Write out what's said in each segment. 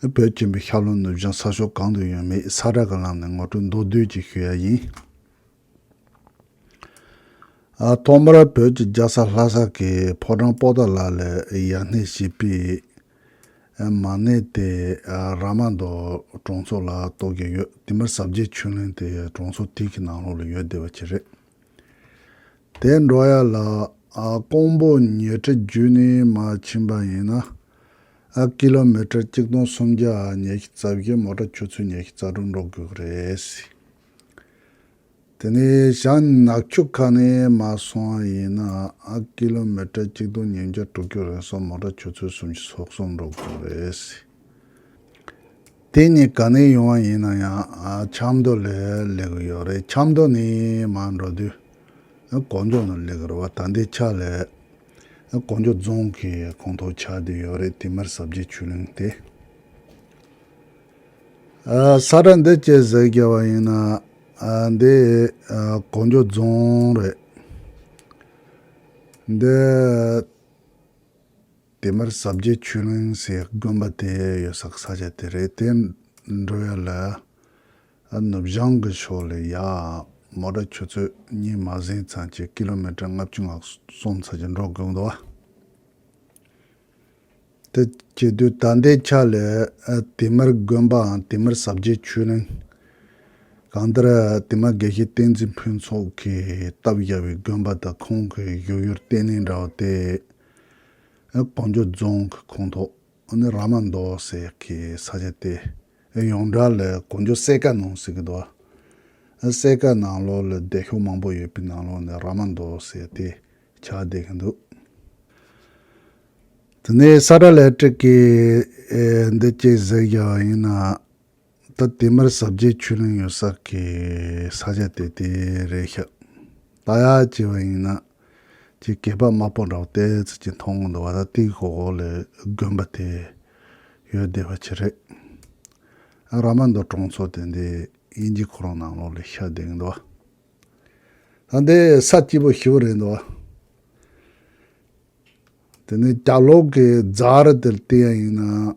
བོད་སྐྱིད་པའི་ཤར་ལྷོ་ནུབ་བྱང་ས་ཕྱོགས་གང་དུ་ཡོད་མེད་ས་ར་ག་ལམ་ནས་ངོ་སྤྲོད་མདོར་བསྡུས་ཀྱིས་ཞུ་ཡ་ཡིན། ཐོག་མར་བོད་ཀྱི་རྒྱལ་ས་ལྷ་ས་ཀྱི་ཕོ་བྲང་སྤོ་སྟག་ལ་ལ་ཡ་སྣེ་ཞེས་པའི་མ་སྣེ་དེ་ར་མ་མདོ་གྲོང་ཚོ་ལ་གཏོགས་ཀྱི་ཡོད་དེ་མིར་ཟབ་རྒྱས་ཆུ་ལེན་དེ་གྲོང་ཚོ་དེ་གི་ནང་ལོགས་ལ་ཡོད་བསྡད་པ་ཁྱེད་རེད། དེ་འགྲོ་ཡ་ལ། ཀོང་པོ་ཉེ་ཁྲི་བརྒྱུད་ནས་མ་ཕྱིན་པ་ཡིན་ན། ཀི་ལོ་མི་ཀྲེར་གཅིག་སྟོང་སུམ་བརྒྱ་ཉེ་ཤི་རྩ་བཞི་མོ་ཀྲ་ཆུ་ཚོད་ཉེ་ཤི་རྩ་དྲུག་འགྲོ་དགོས་ཀི་རེད། དེ་ནས་ཞང་ནགས་ཆུ་ཁ་ནས་མ་སོང་བ་ཡིན་ན། ཀི་ལོ་མི་ཀྲེར་གཅིག་སྟོང་ཉིས་བརྒྱ་དྲུག་བརྒྱུད་རིང་སོགས་མོ་ཀྲ་ཆུ་ཚོད་སུམ་བཞི་སོགས་གསུམ་འགྲོ་དགོས་ཀི་རེད། དེ་གཉིས་ག་ནས་ཡོང་བ་ཡིན་ན་ཡང་ཆབ་མདོ་ལས་ལེགས་གི་ཡོད་རེད་ཆབ་མདོ་ནས་མར་འགྲོ་དུས་གོ་འཇོ་ནས་ལེགས་རེད་བ་ད་ལྟའི་ཆ་ལས་གོ་འཇོ་རྫོང་གི་གོང་ཐོག་ཆགས་བསྡད་ཡོད་རེད་དེ་མིར་གཟབ་རྒྱས་ཆུ་གླིང་དེ། ས་ཁྲ་འདི་བཅས་ཟས་བརྒྱད་བ་ཡིན་ན་འདི་གོ་འཇོ་རྫོང་རེད་འདི། དེ་མུར་ཟབ་རྒྱས་ཆོས་གླིང་ཞེས་དགོན་པ་དེ་ཡོད་སར་ས་ཆ་དེ་རེད་དེ་འགྲོ་ཡ་ལ་ནུབ་བྱང་གི་ཕྱོགས་ལས་ཡར་མོ་ར་ཆུ་ཚོད་གཉིས་མ་ཟིན་ཙང་གྱི་ཀི་ལོ་མི་ཀྲི་ལྔ་བཅུ་ང་གསུམ་ཚ་གྱི་འགྲོ་དགོས་འདུག་དེ་བྱེད་དུས་ད་ལྟའི་ཆ་ལས་དེ་མུར་དགོན་པའང་དེ་མུར་ཟབ་རྒྱས་ཆོས་གླིང་གང་ལྟར་དེ་མ་དགེ་བཤེས་བསྟན་འཛིན་ཕུན་ཚོགས་ཀྱིས་སྟབས་བརྒྱབ་པའི་དགོན་པ་དང་ཁོང་གི་བཞུགས་ཡུལ་བསྟན་གནས་འདྲ་བོ་དེ་གངས་ལྗོངས་རྫོང་གི་ཁོངས་གཏོགས་ནི་ར་མ་མདོ་ཟེར་གི་ས་ཆ་སྟེ། ཡོངས་གྲགས་ལ་གངས་ལྗོངས་གསེར་ཀ་ནང་ཟེར་གི་འདུག་གསེར་ཀ་ནང་ལོགས་ལ་སྡེ་ཤོག་མང་པོ་ཡོད་པའི་ནང་ལོགས་ནི་ར་མ་མདོ་ཟེར་ཏེ་བྱ་བསྡད་ཀྱི་འདུག་དེ་ནས་ས་དགྲ་ལས་སྤྲུལ་སྐད་འདི་སྐྱེས་ཟེར་གྱི་ཡིན་ན། ད་དེ་མར་གཟབ་རྒྱས་ཆོས་གླིང་ཡོད་ས་ཀྱི་ས་ཆ་དེ་དེ་རེད་ཤག། ད་ཡ་ཅེས་པ་ཡིན་ན། ཅེས་སྐད་པ་དམའ་པོ་འདྲ་བོ་ཏའི་ཚིག་གི་མཐོང་སྒོ་འདུག་བ་ད་ཏིག་ཧོ་ཧོ་ལས་དགོན་པ་དེ་ཡོད་བསྡད་པ་ཆི་རེད། ཨ་ར་མ་མདོ་གྲོང་ཚོ་དེ་འདི་དབྱིན་ཇི་ཁོ་རང་ནང་ལོགས་ལས་ཤག་བསྡད་གི་འདུག་བ། ད་འདི་ས་སྐྱིད་པོ་ཞི་བོ་རེད་འདུག་བ། དེ་ནས་རྒྱ་ལོག་གི་རྫ་རི་དེར་ཏིག་ཡ་ཡིན་ན།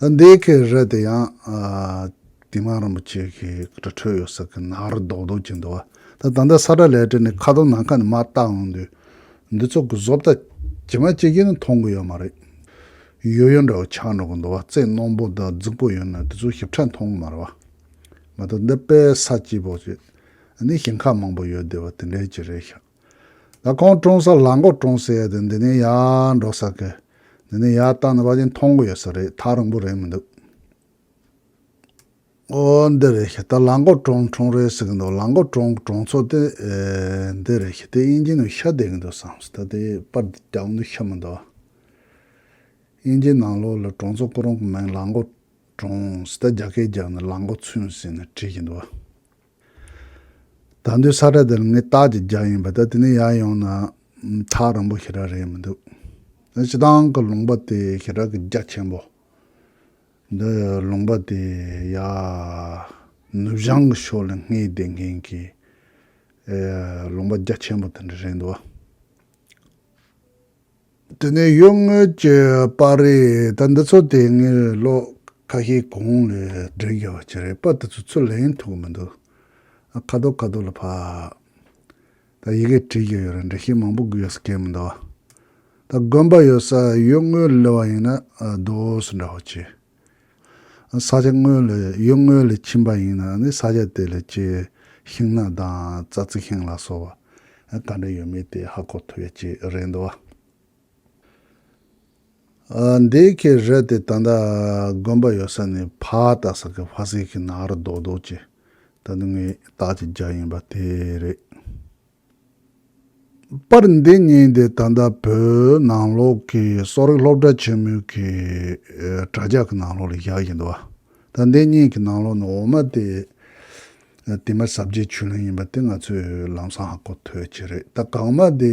ད་འདི་གའི་རེད་དེ་ཡང་དེ་སྔ་རིན་པོ་ཆེ་གི་དྲ་གྲོགས་ཡོད་ས་གི་ནང་རུ་རྡོག་རྡོག་གྱིན་འདུག་བ་ད་ད་ལྟ་ས་དྲ་ལས་བྲལ་ནས་ཁ་དོག་ནམ་མཁའ་ནས་མ་བལྟ་འོང་དུས་འདི་ཚོ་གི་བཟོ་ལྟ་ཇི་མ་ཇི་བཞིན་ནི་མཐོང་གི་ཡོད་མ་རེད། ཡོད་ཡོད་འདྲ་བོ་ཆགས་འགྲོ་གི་འདུག་བ་རྩེ་རྣོན་པོ་དང་རྫིག་པོ་ཡོད་ནའི་དེ་ཚོ་ཞིབ་ཕྲ་མཐོང་གི་མ་རེད་བ། མ་ད་འདི་དཔེ་ས་སྐྱིད་པོ་ཞིག་འདི་ཞིང་ཁ་མང་པོ་ཡོད་དེ་བ་དེ་འདྲའི་ཅིག་རེད་ཤག། ལ་ཁོང་བཀྲོངས་ས་ལ་མགོ་བཀྲོངས་ས་ཡོད་དུས་འདི་ནས་ཡར་འགྲོ་ས་ཁུལ་འདི་ནས་ཡར་བཏང་ནས་པ་ཅིང་མཐོང་གི་ཡོད་ས་རེད་ཐག་རིང་པོ་རེད་མི་འདུག་ཨོ་འདི་རེད་ཤི་ད་ལ་མགོ་བཀྲོངས་བཀྲོངས་རེད་ཟེར་གི་འདུག་ལ་མགོ་བཀྲོངས་བཀྲོངས་ཚོ་དེ་འདི་རེད་ཤི་དེ་དབྱིན་ཇི་ནང་ཤ་བསྡད་གི་འདུག་བསམས་ད་དེ་པར་འདི་རྒྱག་གི་འདུག་ཤ་མི་འདུག་དབྱིན་ཇི་ནང་ལོག་ལ་བཀྲོངས་ཚོ་སྐུ་རོང་གི་མིང་ལ་མགོ་བཀྲོངས་ཟེར་ད་རྒྱ་སྐད་རྒྱག་ནས་ལ་མགོ་ཚུན་ཟེར་ནས་བྲིས་ཀྱི་འདུག། ད་འདོད་ས་ར་དེ་ལ་ངའི་རྟགས་ཀྱི་རྒྱ་ཡིན་པ་དང་དེ་ནས་ཡར་ཡོང་ན་ཐག་རིང་པོ་ཞེ་དྲག་རེད་མི་འདུག་ད་སྤྱི་བཏང་གི་ལུང་པ་དེ་ཞེ་དྲག་གི་རྒྱ་ཆེན་པོ། འདི་ལུང་པ་དེ་ཡ་ནུབ་བྱང་གི་ཕྱོགས་ལ་སྔས་བསྡད་མཁན་གྱི་ལུང་པ་རྒྱ་ཆེན་པོ་དེ་འདྲ་རེད་འདུག་བ། དེ་ནས་གཡོ་སྔོན་གྱི་པར་རིས་ད་འདི་ཚོ་དེ་སྔའི་རི་ཀློག་ཁ་ཤས་གོང་ལས་འགྲེལ་དགོས་པ་ཅི་རེད་པར་དེ་ཚོ་ཚུར་ལེན་ཐུབ་གི་མི་འདུག་ཨ་ཁ་དོག་ཁ་དོག་ལ་ཕབ། ད་ཡི་གེ་བྲིས་ཀྱི་ཡོད་རེད་འགྲེལ་བཤད་མང་པོ་དགོས་ཡོད་ས་སྐད་མི་འདུག་ད་དགོན་པ་ཡོད་ས་གཡོ་སྔོན་ལི་བ་ཡིན་ན་རྡོ་སོ་འདྲ་བོ་བྱེད། ས་ཆ་དངོས་ལས་ཡུལ་དངོས་ལས་ཕྱིན་པ་ཡིན་ན་ནི་ས་ཆ་དེ་ལས་སྐྱེས་ཤིང་སྣ་དང་རྩྭ་རྩི་ཤིང་ལ་སོགས་པ་ག་འདྲ་ཡོད་མེད་དེ་ཧ་གོ་ཐུབ་ཡ་ཅི་རེད་འདུག་བ། འདི་གའི་རི་དེ་ད་ལྟ་དགོན་པ་ཡོད་ས་ནས་ཕ་རྟ་ཟེར་གི་ཕ་ཟེར་གི་ནག་རི་རྡོག་རྡོག་ཅིག་ད་དུང་ངའི་བདག་གི་རྒྱ་ཡིན་པ་དེ་རེད། པར་འདི་གཉིས་འདི་ད་ལྟ་བོད་ནང་ལོགས་ཀྱི་གསོ་རིག་སློབ་གྲྭ་ཆེན་མོའི་གི་དྲ་རྒྱ་གི་ནང་ལོགས་ལ་བཞག་ཡིན་འདུག་ད་འདི་གཉིས་ཀྱི་ནང་ལོགས་ནི་འོ་མ་དེ་དེ་མ་ཟབ་རྒྱས་བྱུས་ལན་ཡིན་པ་དེ་ང་ཚོས་ལམ་སང་ཧ་གོ་ཐོས་ཀྱི་རེད་ད་གང་མ་དེ་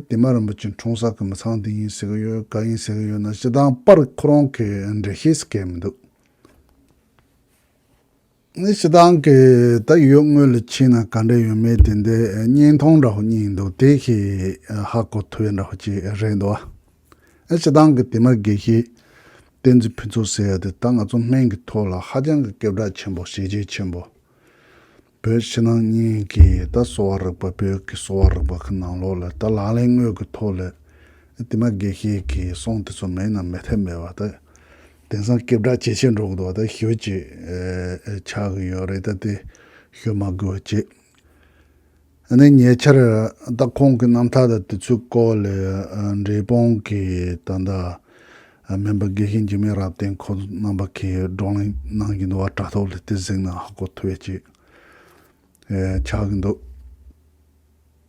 དེ་མ་རིན་པོ་ཆེ་འཁྲུངས་ས་གི་མི་ཚང་འདི་ཡིན་ཟེར་གི་ཡོད་ག་ཡིན་ཟེར་གི་ཡོད་ན་སྤྱི་སྟངས་པར་ཁོ་རང་གི་འགྲེལ་བཤད་སྐད་མི་འདུག། ནི་སི་ཏང་གིས་ད་ཡོད་དངུལ་ལ་ཕྱིན་ན་ག་འདྲ་ཡོད་མེད་དེ་འདི་བརྙན་ཐུང་འདྲ་བོ་གཉིས་འདུག་དེ་ཤི་ཧ་གོ་ཐོས་འདྲ་བོ་ཅིག་རེད་འདུག་ཨ། སི་ཏང་གི་དེ་མ་དགེ་བཤེས་བསྟན་འཛིན་ཕུན་ཚོགས་ཟེར་ཡ་དེ་ད་ང་ཚོ་སྨན་གྱི་ཐོག་ལ་ཧ་ཅང་གི་སྐད་གྲགས་ཆེན་པོ་ཤེས་རྒྱལ་ཆེན་པོ། བོད་ཕྱི་ནང་གཉིས་ཀྱི་ད་གསོ་བ་རིག་པ་བོད་ཀྱི་གསོ་བ་རིག་པ་གི་ནང་ལོགས་ལ་ད་ལག་ལེན་དངོས་གྱི་ཐོག་ལ་དེ་མ་དགེ་བཤེས་གྱི་གསུང་དེ་ཚོ་མེད་ན་མི་ཐེབས་མེད་པ་ད་དེང་སང་སྐད་གྲགས་ཇེ་ཆེར་འགྲོ་གི་འདུག་བ་དང་ཞོལ་གྱི་ཆགས་གི་ཡོད་རེད་ད་དེ་ཞོལ་མ་དགོས་བ་ཅི། ཨ་ནེ་ཉེ་ཆར་ད་ཁོང་གི་རྣམ་ཐར་དང་དུས་ཚོད་སྐོར་ལས་འབྲས་སྤུངས་ཀྱི་ད་ལྟ་མིན་པ་དགེ་བཤེས་འཇིགས་མེད་རབ་བརྟན་ཁོང་རྣམ་པ་གིས་བགྲོ་གླེང་གནང་གི་འདུག་བ་དྲ་ཐོག་ལས་དེ་གཟིགས་ན་ཧ་གོ་ཐུབ་བས་ཅི། ཆགས་གི་འདུག།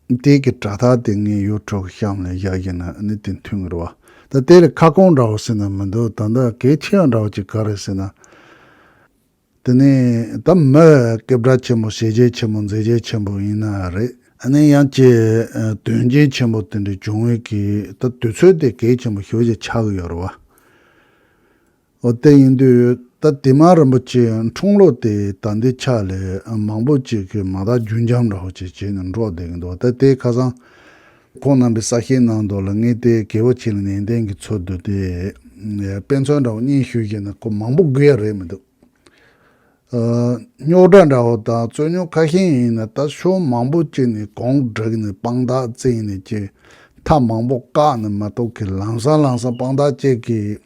དེ་གི་དྲ་ཐག་དེ་ངའི་ཡོ་ཁྲོག་གི་གཤམ་ལ་བཞག་གི་ན་ནི་དེ་མཐུན་ངེར་བ་ད་དེ་ལ་ཁ་སྐོང་འདྲ་བོ་ཟེར་ན་མི་འདུག་ད་འདི་གལ་ཆེ་ཡང་འདྲ་བོ་ཅིག་ག་རེ་ཟེར་ན། དེ་ནི་ད་མི་སྐད་བརྡ་ཆེན་པོ་བྱེད་རྒྱལ་ཆེན་པོ་མཛད་རྒྱལ་ཆེན་པོ་ཡིན་ན་རེད། ནི་ཡང་ཀྱི་དོན་རྒྱལ་ཆེན་པོ་དེ་འདྲའི་བྱུང་བའི་གི་ད་དུས་ཚོད་དེ་གལ་ཆེན་པོ་ཞོ་ཞིག་ཆག་གི་ཡོ་རེད་བ། ཨོ་རྟེན་ཡིན་དུས་ད་དེ་མ་རིན་པོ་ཆེ་འཁྲུངས་ལོ་དེ་ད་འདི་ཆ་ལས་མང་པོ་ཅིག་གིས་མ་དག་རྒྱུན་འབྱམས་ར་བ་ཅིག་བྱས་ནས་འགྲོ་བསྡད་ཀྱི་འདུག་ད་དེ་ཁ་སང། ཁོང་རྣམ་པའི་ས་ཞིང་ནང་དུ་ལ་ངའི་ཏའི་གེ་བོ་ཆེ་ལ་ནན་ཏན་གྱིས་འཚོལ་དུ་དེ་དཔེ་མཚོན་འདྲ་བོ་གཉིས་ཞུས་ཀྱིན་ན་ཁོ་མང་པོ་དགོས་ཡ་རེད་མི་འདུག་རྙོག་དྲ་འདྲ་བོ་དང་རྩོད་རྙོག་ཁ་ཤས་ཡིན་ན་ད་ཕྱོགས་མང་པོ་ཅིག་ནས་གོང་བསྒྲིགས་ནས་དཔང་རྟགས་བཙལ་ནས་ཅིག་མཐའ་མང་པོ་བཀག་ནས་མ་གཏོགས་གི་ལང་སང་ལང་སང་དཔང་རྟགས་བཅས་ཀྱིས།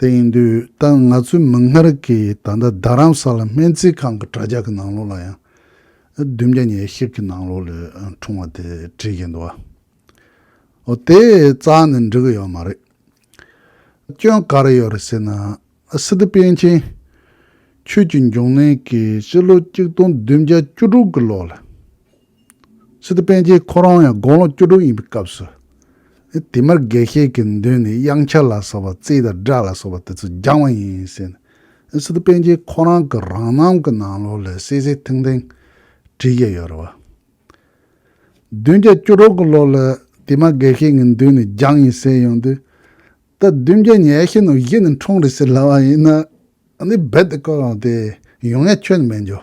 དེ་ཡིན་དུས་ད་ང་ཚོའི་མིག་སྔར་གྱི་ད་ལྟ་རྡ་རམ་ས་ལ་སྨན་རྩིས་ཁང་གི་དྲ་རྒྱ་གི་ནང་ལོགས་ལ་ཡང་བདུན་བརྒྱ་ཉེར་བཞི་གི་ནང་ལོགས་ལས་འཁྲུངས་བ་དེ་བྲིས་ཀྱི་འདུག་ཨོ་དེ་རྩག་ནས་འབྲི་གི་ཡོད་མ་རེད། སྐྱོན་ག་རེ་ཡོད་རེད་ཟེར་ན་སི་ཏི་པན་ཆེན་ཆོས་ཀྱི་འབྱུང་གནས་ཀྱིས་སྤྱི་ལོ་གཅིག་སྟོང་བདུན་བརྒྱ་བཅུ་དྲུག་གི་ལོགས་ལ། ཕྱི་དུ་པཎ་ཆེན་ཁོ་རང་ཡང་དགུང་ལོ་བཅུ་དྲུག་ཡིན་པའི་སྐབས་སུ། དེ་མུར་དགེ་བཤེས་ཀྱི་མདུན་ནས་དབྱངས་འཆར་ལ་སོགས་པ་རྩིས་དང་སྒྲ་ལ་སོགས་པ་དེ་ཚོ་སྦྱངས་བ་ཡིན་ཟེར། སི་ཏུ་པཎ་ཆེན་ཁོ་རང་གི་རང་རྣམ་གྱི་ནང་ལོགས་ལས་གསལ་གསལ་ཐིང་ཐིང་བྲིས་ཀྱི་ཡོད་རེད་བ། བདུན་བརྒྱ་བཅུ་དྲུག་གི་ལོ་ལ་དེ་མ་དགེ་བཤེས་ཀྱི་མདུན་ནས་སྦྱངས་ཡིན་ཟེར་ཡོང་དུས། ད་བདུན་བརྒྱ་ཉེར་བཞི་ནང་བཞི་ནས་འཁྲུངས་རེད་ཟེར་སླ་བ་ཡིན། འདི་རྦད་དེ་བཀོད་ཡོང་དེ་ཡོང་ཡ་ཁྱོན་ནས་མེད་འགྱོ།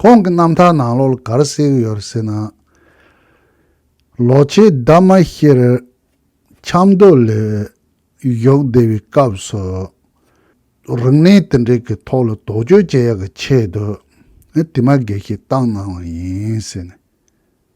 ཁོང་གི་རྣམ་ཐར་ནང་ལོ་གར་གསེར་ཡོད་ཟེར་ན། ལོ་ཆེ་འདབ་མ་ཤེར་འཁྱམས་རྡོ་ལས་གཞོགས་བདེ་བའི་སྐབས་སུ། རིང་ནས་དེ་འབྲེལ་གྱི་ཐོག་ལ་དོགས་གཅོད་བྱེད་ཡག་གི་ཆེད་དུ། དེ་མ་དགེ་ཞིག་བཏང་གནང་བ་ཡིན་ཟེར་ནས།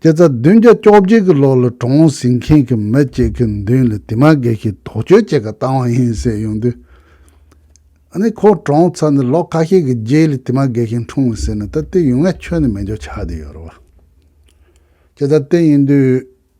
སྐྱེ་རྩ་བདུན་བརྒྱ་བཅོ་བརྒྱད་ཀྱི་ལོ་ལ་གྲོང་ཟིང་མཁན་གྱི་མི་གཅིག་གི་མདུན་ལ་དེ་མ་དགེ་ཞིག་དོགས་གཅོད་ཅིག་བཏང་བ་ཡིན་ཟེར་ཡོང་དུས། ཨ་ནི་ཁོ་གྲོངས་ཚར་ནས་ལོ་ཁ་ཤས་ཀྱི་རྗེས་ལ་དེ་མ་དགེ་ཞིག་འཁྲུངས་བ་ཟེར་ནས་ད་ལྟའི་ཡུལ་ངལ་ཆོས་ནི་མི་འཇོག་ཆགས་བསྡད་ཡོད་རེད་བ། སྐྱེ་རྩ་དེ་ཡིན་དུས།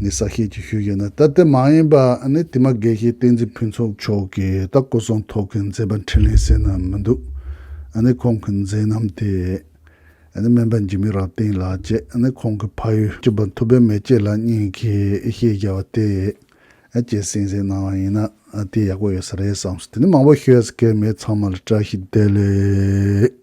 ནི་ས་སྐྱེས་ཀྱི་ཤུལ་ཡིན་ན་སྟབས་བདེ་མ་ཡིན་པ་ནི་དེ་མ་དགེ་བཤེས་བསྟན་འཛིན་ཕུན་ཚོགས་མཆོག་གིས་རྟ་སྐོ་ཚོང་ཐོག་གི་མཛེས་པ་འཕྲིན་ལས་ཟེར་ན་མི་འདུག་ནི་ཁོང་གི་མཛད་རྣམ་དེས་ནི་སྨན་པ་འཇིགས་མེད་རབ་བརྟན་ལགས་ཀྱིས་ནི་ཁོང་གི་ཕ་ཡུལ་གྱི་བ་ཐུབ་པའི་མེ་ལྕེ་ལ་སྙིང་གི་ཤེས་རྒྱ་བ་དེ་བཅས་གསན་གཟིགས་གནང་བ་ཡིན་ན་དེ་ཡག་པོ་ཡོད་ས་རེད་བསམ་སོང་དེ་ནི་མང་པོ་ཤོད་ས་ཁེལ་མེད་ཚང་མ་ལ་བཀྲ་ཤིས་བདེ་ལེགས།